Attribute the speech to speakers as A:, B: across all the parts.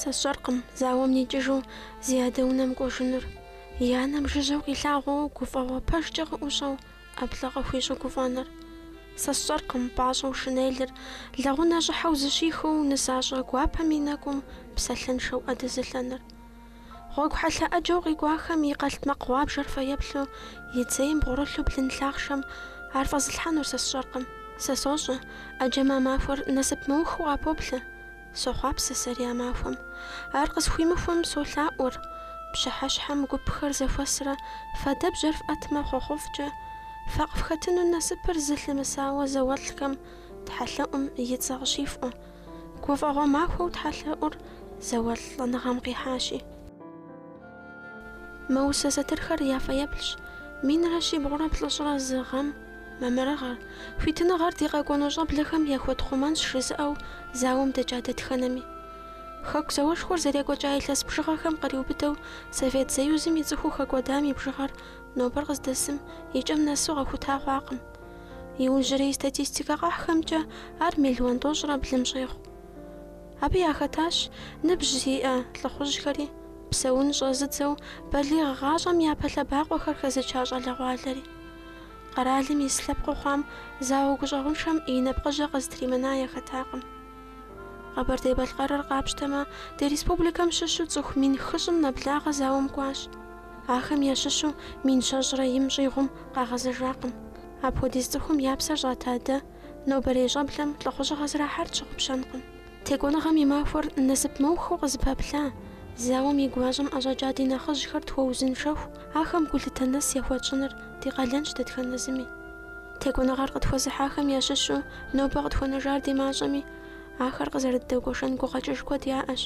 A: Сэ сщӏэркъым зауэм никӏыжу зи адэ унэм кӏуэжынур. И анэм жыжьэу къилъагъуу гуфӏэгъуэ пэжкӏэ къыӏущӏэу ӏэплӏэ къыхуищӏу гуфӏэныр. Сэ сщӏэркъым пӏащӏэу шинелыр лэгъунэ щӏыхьэу зыщихыу нысащӏэ гуапэм и нэкӏум псалъэншэу ӏэ дэзылъэныр. Гъуэгу хьэлъэ ӏэджэу къикӏуахэм и къэлътмакъ гъуабжэр фэеплъу и цейм бгъурылъу блын лъахъшэм ар фӏэзылъхьэнур сэ сщӏэркъым. Сэ сощӏэ, ӏэджэм а махуэр насып мыухыу къапоплъэ. Сохъуапсэ сэри а махуэм. Ар къысхуимыхуэм солъаӏуэр, пщыхьэщхьэм гупхэр зэхуэсрэ фадэбжьэр фӏэтмэ хъуэхъуфӏкӏэ, фэ къыфхэтыну насыпыр зылъымысауэ зауэлӏхэм тхьэлъэӏум и цӏэ къыщифӏуэ. Гуфӏэгъуэ махуэу тхьэлъэӏур зауэлӏ лӏэныгъэм къихьащи. Мы усэ сатырхэр я фэеплъщ. Минрэ щибгъурэ плӏыщӏрэ зы гъэм мамырыгъэр, хуитыныгъэр ди къэкӏуэну щӏэблэхэм яхуэтхъумэнщ жызыӏэу зауэм дэкӏа дэтхэнэми. Хэку зауэшхуэр зэрекӏуэкӏа илъэс бжыгъэхэм къриубыдэу Совет Союзым и цӏыхуу хэкӏуэдам и бжыгъэр нобэр къыздэсым и кӏэм нэсу къэхута хъуакъым. Иужьрей статистикэ къахьхэмкӏэ ар миллион тӏощӏрэ блым щӏегъу. Абы яхэтащ ныбжь зиӏэ лӏыхъужьхэри, Псэунщӏэ зыдзэу балигъ гъащӏэм япэ лъэбакъуэхэр хэзыча щӏалэгъуалэри. Къэралым ис лъэпкъыу хъуам зауэ гущӏэгъуншэм и нэпкъыжьэ къызытримына яхэтакъым. Къэбэрдей-Балъкъэрыр къапщтэмэ, ди республикэм щыщу цӏыху мин хыщӏым нэблагъэ зауэм кӏуащ. Ахэм ящыщу мин щэщӏрэ им щӏигъум къагъэзэжакъым. Апхуэдиз цӏыхум я псэр щӏата дэ, нобэрей щӏэблэм лӏыхъужьыгъэ зэрахьар тщыгъупщэнкъым. Текӏуэныгъэм и махуэр насып мыухыу къызыпэплъа, зауэм и гуащӏэм ӏэщӏэкӏа ди нэхъыжьхэр тхуэузыншэху, ахэм гулъытэ нэс яхуэтщӏыныр ди къалэнщ дэтхэнэ зыми. Текӏуэныгъэр къытхуэзыхьахэм ящыщу нобэ къытхуэнэжар ди мащӏэми, ахэр къызэрыддэгуэшэн гукъэкӏыж куэд яӏэщ.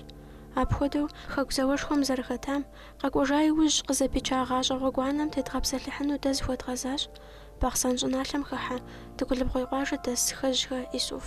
A: Апхуэдэу, Хэку зауэшхуэм зэрыхэтам, къэкӏуэжа иужь, къызэпича гъащӏэ гъуэгуанэм тедгъэпсэлъыхьыну дэ зыхуэдгъэзащ Бахъсэн щӏыналъэм хыхьэ Дыгулыбгъуей къуажэ дэс Хэжьхэ Исуф.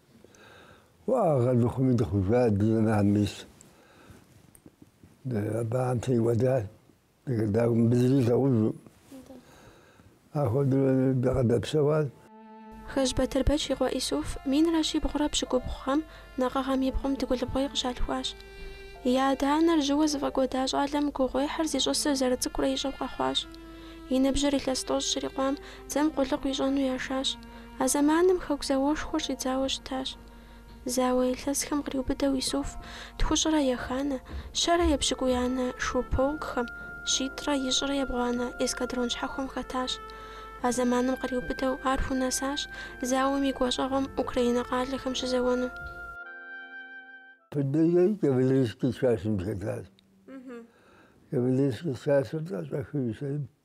B: Уӏэгъэ дыхъуми дыхъужа дызэнам мис. Абам теуэда дагум бызри лъэужу. Ахуэдэ дыкъэдэпсэуат. Хэжь
A: Батырбэч и къуэ Исуф минрэ щибгъурэ пщыкӏубгъу гъэм накъыгъэм и бгъум Дыгулыбгъуей къыщалъхуащ. И адэ-анэр жьыуэ зыфӏэкӏуэда щӏалэм гугъуехьыр зищӏысыр зэрыцӏыкӏурэ ищӏэу къэхъуащ. И ныбжьыр илъэс тӏощӏ щрикъуам дзэм къулыкъу ищӏэну яшащ. А зэманым Хэку зауэшхуэр щӏидзауэ щытащ. Зауэ илъэсхэм къриубыдэу Исуф тхущӏрэ еханэ, щэрэ епщыкӏуианэ шу полкхэм, щитӏрэ ищӏрэ ебгъуанэ эскадрон щхьэхуэм хэтащ. А зэманым къриубыдэу ар хунэсащ зауэм и гуащӏэгъуэм Украинэ къалэхэм
B: щызэуэну. Пыдыжей Кавалерийский часым хэтащ. Кавалерийский часыр тӏэщӏэхыу исейм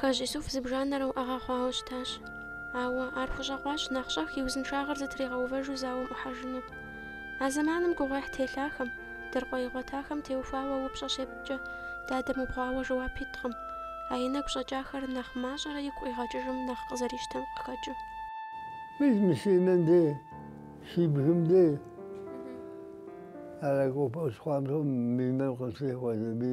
A: Хъэжь Исуф зыбжанэрэ уӏэгъэ хъуауэ щытащ. Ауэ ар хущӏэкъуащ нэхъ щӏэх и узыншагъэр зэтригъэувэжу зауэм ӏухьэжыну. А зэманым гугъуехь телъахэм, дыркъуэ игъуэтахэм теухуауэ упщӏэ щепткӏэ, дадэм убгъуауэ жэуап иткъым, а и нэгу щӏэкӏахэр нэхъ мащӏэрэ игу къигъэкӏыжым нэхъ къызэрищтэм къыхэкӏыу. Мис
B: мы си нэм де, си бгым де, ар а кӏуэпӏэ щхъуантӏэм мы нэр къытрехуэ, зэби.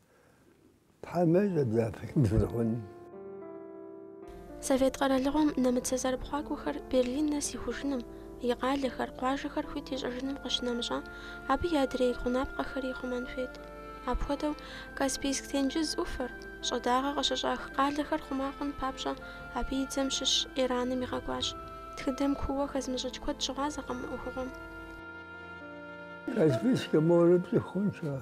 A: Совет къэралыгъуэм нэмыцэ зэрыпхъуакӏуэхэр Берлин нэс ихужыным, и къалэхэр, къуажэхэр хуит ищӏэжыным къыщынэмыщӏэ, абы и адрей гъунапкъэхэри хъумэн хуейт. Апхуэдэу, Каспийск тенджыз ӏуфэр, щӏыдагъэ къыщыщӏах къалэхэр хъума хъун папщӏэ, абы и дзэм щыщ Ираным игъэкӏуащ. Тхыдэм кууэ хэзмыщӏыкӏ куэд щыгъуазэкъым мы ӏуэхугъуэм.
B: Каспийскэ морыр пцӏы хъунщ ар.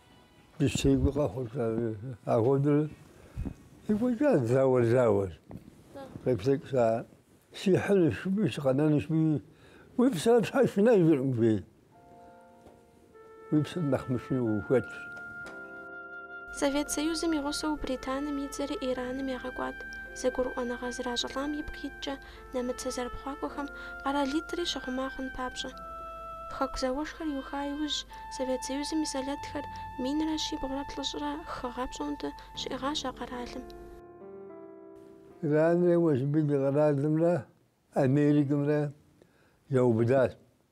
B: Дыщтегуи къэхъурта апхуэдэурэ екӏуэкӏат зауэр зауэр. Къеплъэкӏса сихьынущ мыбы сыкъэнэнущ мыи уи псэр тхьэ шынэжыркъым жей. Уи псэр нэхъ мышынэу
A: ухэтщ. Совет Союзым и гъусэу Британым и дзэри Ираным ягъэкӏуат. Зэгурыӏуэныгъэ зращӏылӏам ипкъ иткӏэ, нэмыцэ зэрыпхъуакӏуэхэм къэралитӏри щыхъума хъун папщӏэ. Хэку зауэшхуэр иуха иужь, Совет Союзым и сэлэтхэр минрэ щибгъурэ плӏыщӏрэ хы гъэ пщӏондэ щиӏыгъащ а
B: къэралым. Иранрэ Уэшб ди къэралымрэ Америкэмрэ яубыдащ.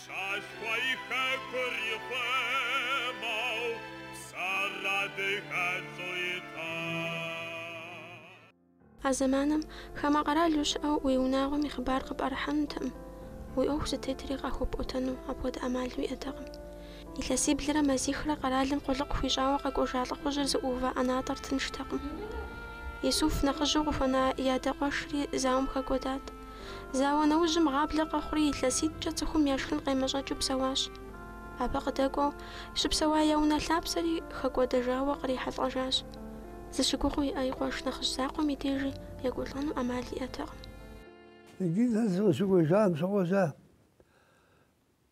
C: Щалъхуа и хэкур ихъумэу псэр адыгэцӏу
A: итӏэ. А зэманым хамэ къэралу щыӏэу уи унагъуэм и хъыбар къыпӏэрыхьэнутэкъым, уи ӏуэху зытетри къахуэпӏуэтэну апхуэдэ ӏэмал уиӏэтэкъым. Илъэсиблрэ мазихрэ къэралым къулыкъу хуищӏауэ къэкӏуэжа лӏыхъужьыр зыӏуува ӏэнатӏэр тынштэкъым. Исуф нэхъыжьу къыхуэна и адэкъуэшри зауэм хэкӏуэдат. Зауэ нэужьым гъаблэ къэхъури, илъэситӏкӏэ цӏыхум я шхын къемэщӏэкӏыу псэуащ. Абы къыдэкӏуэу, щыпсэуа я унэ лъапсэри хэкӏуэдэжауэ кърихьэлӏэжащ. Зыщыгугъыу иӏэ и къуэш нэхъыжь закъуэм и дежи екӏуэлӏэну ӏэмал иӏэтэкъым. Иджы
B: сэ сыкъыщыкӏуэжам щыгъуэжьа,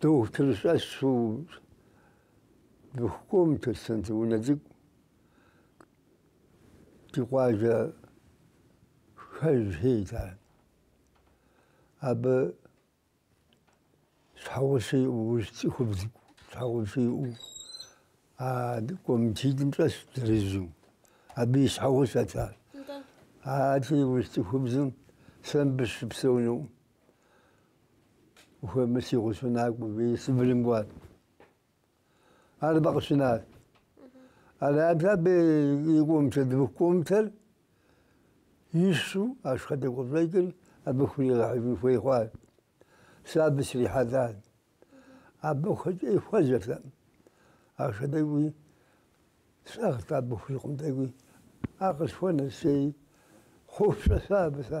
B: Дохутыр щӏэсу двухкомнатнэ зы унэ цӏыкӏу ди къуажэ хэжхи ита. Абы щхьэгъусэ иӏэу, урыс цӏыхубз щхьэгъусэ иӏэу а комнэтитӏым щӏэсщ зырызу. Абы и щхьэгъусэт ар. Ар а урыс цӏыхубзым сэ мыбы щыпсэуну. Хуэмыси къыщунакӏуэ, бей Сыбырым кӏуат. Ар абы къыщинат. Арабза бей и комнэт, дыбых комнэтыр ищу ахъшэ тӏэкӏу къыщӏэкӏыр абы хуригъэхьыжын хуей хъуат. Сэ абы срихьэлӏат. Абы хуэкӏи хуэзэрт ахъшэ тӏэкӏуи, сӏыгът абы хурикъун тӏэкӏуи. Ар къысхуэнэс сей хъуфщӏэ сэ абы сэ.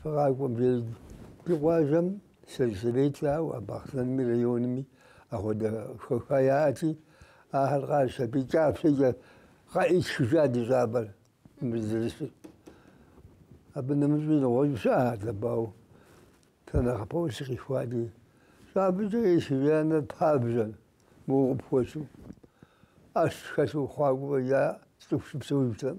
B: Сыкъэкӏуэжри ди къуажэм сельсовет щӏауэ, Бахъсэнми районми апхуэдэ хэха яӏэти, ахэр къащэпи кӏапсэкӏэ къаӏитхыжа ди щӏапӏэр мы дызэрысыр. Абы нэмыщӏи нэгъуэщӏ щыӏэхэр дабау сэ нэхъыпэу сыкъихуа ди щӏапӏэкӏэ исхыжа нэр пабжьэ моуэ къыпхуэщу. ӏэщ хэлъу хъуакӏуэ я цӏыху щыпсэужтэкъым.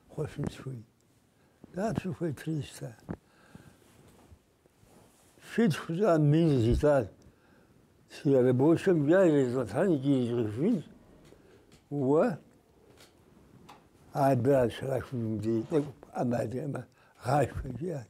B: Хуэщӏын сыхуей. Дапщэ ухуей? Триста. Щитху щӏа мин зитар? Си рабочэм я ирезгъэтхьэн икӏи иризгъэжын уэ абы а щрахым дей тӏэкӏу пӏэмадэӏымэ гъашхэ, жиӏат.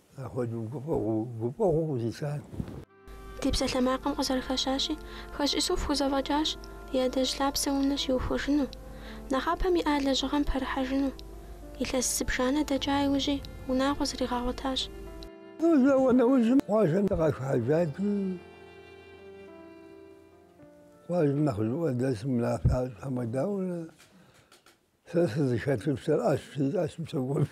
B: Апхуэдэу гуфӏэгъуэу, гуфӏэгъуэу къызищат.
A: Ди псалъэмакъым къызэрыхэщащи, Хъэщӏ Исуф хузэфӏэкӏащ и адэжь лъапсэ унэ щиухуэжыну, нэхъапэм иӏа лэжьыгъэм пэрыхьэжыну. Илъэс зыбжанэ дэкӏа иужьи, унагъуэ зригъэгъуэтащ.
B: Зауэ нэужьым къуажэм дыкъашхьэжати, къуажэм нэхъыжьыӏуэ дэсым унафэщӏ хьэмэ дауэрэ, сэ сызыхэтыр сэращ, си ӏэщым согуэф.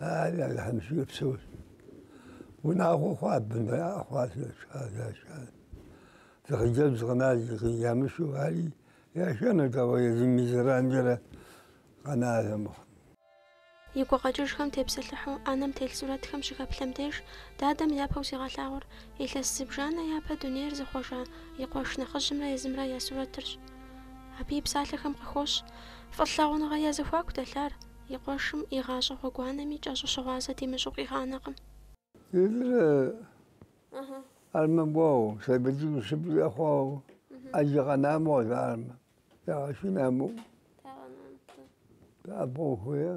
B: Ари Алыхьым и шыкур псэущ. Унагъуэ хъуа бынэ хъуа зашар. Зы хъыджэбз къэна ямышу ари яшэнут, ауэ езым и зэранджэрэ къэнащ армыхъу.
A: И гукъэкӏыжхэм тепсэлъыхьу ӏэнэм телъ сурэтхэм щыхэплъэм деж, дадэм япэу сигъэлъагъуэр илъэс зыбжанэ япэ дунейр зыхъуэжа и къуэш нэхъыжьымрэ езымрэ я сурэтырщ. Абы и псалъэхэм къыхощ. Фӏылъагъуныгъэ я зэхуаку дэлъар, и къуэшым, и гъащӏэ гъуэгуанэми кӏэщӏу щыгъуазэ димыщӏу къигъанэкъым. Илрэ
B: армэ гуоу, сэбэдзыгу шыпӏ зэхъуоу, ӏэджэ къэнамэ къызармэ, ягъэшынамэу, абгъуэу хуея?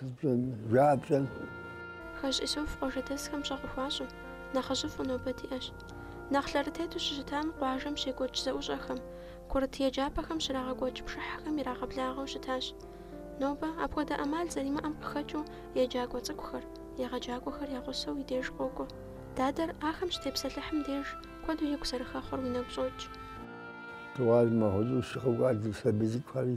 B: Жабжьэр.
A: Хэжь Исуф къуажэдэсхэм пщӏэ къыхуащӏу, нэхъыжьыфӏу нобэ диӏэщ. Нэхъ лъэрытету щыщытам къуажэм щекӏуэкӏ зэӏущӏэхэм, курыт еджапӏэхэм щрагъэкӏуэкӏ пшыхьхэм ирагъэблагъэу щытащ. Нобэ, апхуэдэ ӏэмал зэримыӏэм къыхэкӏыу, еджакӏуэ цӏыкӏухэр, егъэджакӏуэхэр я гъусэу и деж къокӏуэ. Дадэр, ахэм щытепсэлъыхьым деж, куэду игу зэрыхэхъур уи нэгу щӏокӏ. Дыгъуасэ
B: махуэ зыу щыкъэкӏуат зы сабий цӏыкӏухэри.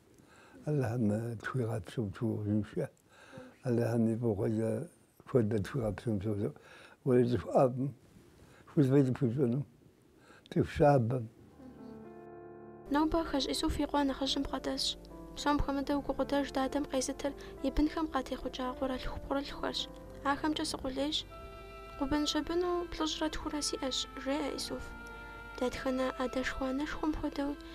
B: Алыхьым тхуигъэпсэу тхуигъэузыншэ, Алыхьым и фӏыгъуэкӏэ куэдрэ тхуигъэпсэу тхуигъэузыншэ. Уей цӏыху ӏэфӏым хуизмэ зыпхуищӏэну, цӏыху щабэм.
A: Нобэ Хэжь Исуф и къуэ нэхъыжьым бгъэдэсщ. Псом хуэмыдэу гукъыдэж дадэм къезытыр и бынхэм къатехъукӏа къуэрылъху-пхъурылъхухэрщ. Ахэмкӏэ сыкъулейщ. Къуэбын-щэбыну плӏыщӏрэ тхурэ сиӏэщ, жеӏэ Исуф. Дэтхэнэ адэшхуэ-анэшхуэм хуэдэуи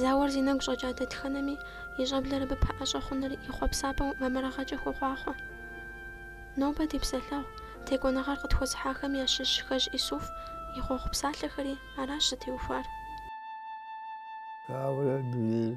A: Зауэр зи нэгу щӏэкӏа дэтхэнэми и щӏэблэр абы пэӏэщӏэ хъуныр и хъуэпсапӏэу мамырыгъэкӏэ хуохъуахъуэ. Нобэ ди псэлъэгъу Текӏуэныгъэр къытхуэзыхьахэм ящыщ Хэжь Исуф и хъуэхъу псалъэхэри аращ зытеухуар.
B: Ауэрэ дунейр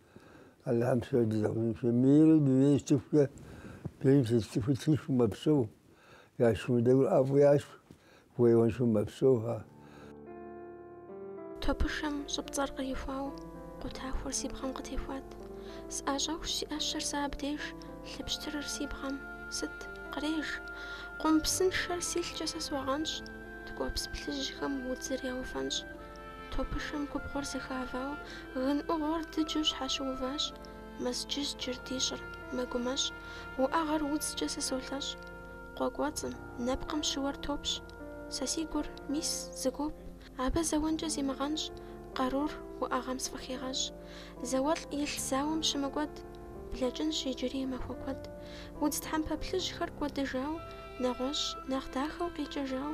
B: Алыхьым дигъэузыншэ мыйрэ дунейр сцӏыхукӏэ бийм сыт цӏыхуи тыншу мэпсэу яшымыдэур ӏэфӏу яшх хуейуэншу мэпсэухэ.
A: Топышэм щӏыпцӏэр кърихуау къутахуэр си бгъэм къытехуат. Сӏащӏэхущ си ӏэщэр сэ абдеж, лъыпщтырыр си бгъэм. Сыт? Къреж! Къум псыншэр си лъкӏэ сэ согъэнщӏ, ткӏуэпс плъыжьхэм удзыр яуфэнщӏ. Топышэм губгъуэр зэхавау, гын ӏугъуэр дыджэу щхьэщыуващ, Мэзджызджыр ди щӏыр, мэгумэщӏ, уӏэгъэр удзкӏэ сэ солъэщӏ. Къуэ кӏуэцӏым, нэпкъым щыуэр топщ. Сэ си гур, мис, зэгуоп, абы зэуэнкӏэ зимыгъэнщӏ, къарур уӏэгъэм сфӏыхигъэщӏ. Зауэлӏ илъ зауэм щымыкӏуэд, блэкӏынщ иджыри махуэ куэд. Удз тхьэмпэ плъыжьхэр кӏуэдыжау, нэгъуэщӏ, нэхъ дахэу къикӏэжау,